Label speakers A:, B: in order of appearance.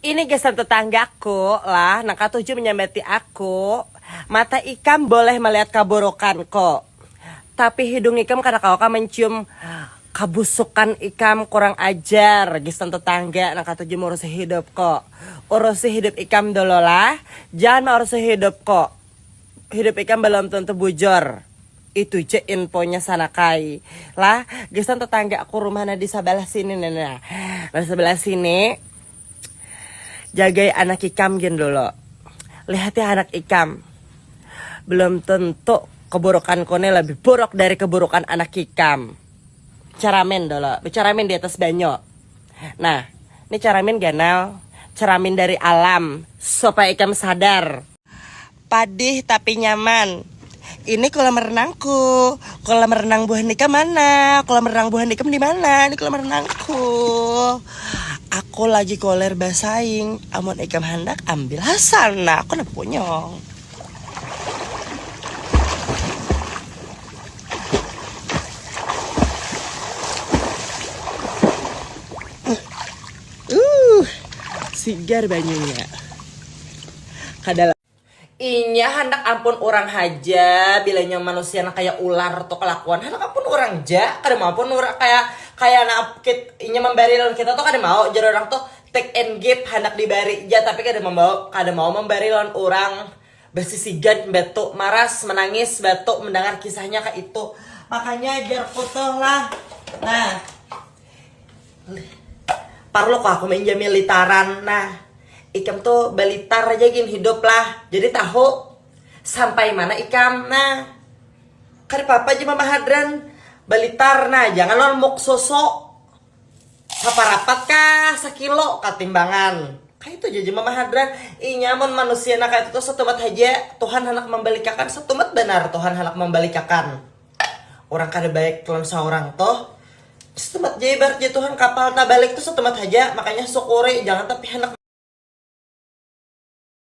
A: Ini gasan tetanggaku lah nang katuju manyambati aku, mata ikam boleh malihat kaburukanku, tapi hidung ikam kada kawa kah mancium kabusukan ikam, kurang ajar gasan tetangga nang katuju maurusi hidupku, urusi hidup ikam dululah, jangan maurusi hidupku, hidup ikam balum tentu bujur. Itu ja infonya sanakai lah gasan tetangga aku rumahnya di sabalah sini nah nah nah sabalah sini jagai anak ikam gin dulu lihat ya anak ikam belum tentu keburukanku nih lebih buruk dari keburukan anak kikam ceramin dulu beceramin di atas banyu nah ni ceramin ganal ceramin dari alam supaya ikam sadar. Padih tapi nyaman. Ini kolam renangku. Kolam renang buah nikam mana? Kolam renang buah nikam di mana? Ini kolam renangku. Aku lagi koler basaing. Amun ikam handak ambil hasana. Aku nak punyong. Uh, sigar banyunya. kada lagi. Inya handak ampun urang haja, bila inya manusia nang kaya ular tu kalakuan handak ampun urang ja, kada mau pun urang kaya kaya nang inya mambari lawan kita tu kada mau jar urang tu take and give handak dibari ja tapi kada mambawa kada mau mambari lawan urang basisigan batu maras manangis batu mandangar kisahnya kaitu makanya jarku tu lah nah. Parlo kah aku mainjam militaran nah ikam tuh balitar aja gin hidup lah jadi tahu sampai mana ikam nah kada papa aja mama hadran balitar nah jangan lawan muk soso saparapat kah sakilo kah timbangan kaya itu aja mama hadran inya mun manusia nah kaya itu tuh satumat haja Tuhan handak mambalikakan satumat banar Tuhan handak mambalikakan. Orang kada baik lawan saurang tuh setemat ja ibarat ja Tuhan kapal tabalik tuh setemat haja makanya syukuri jangan tapi handak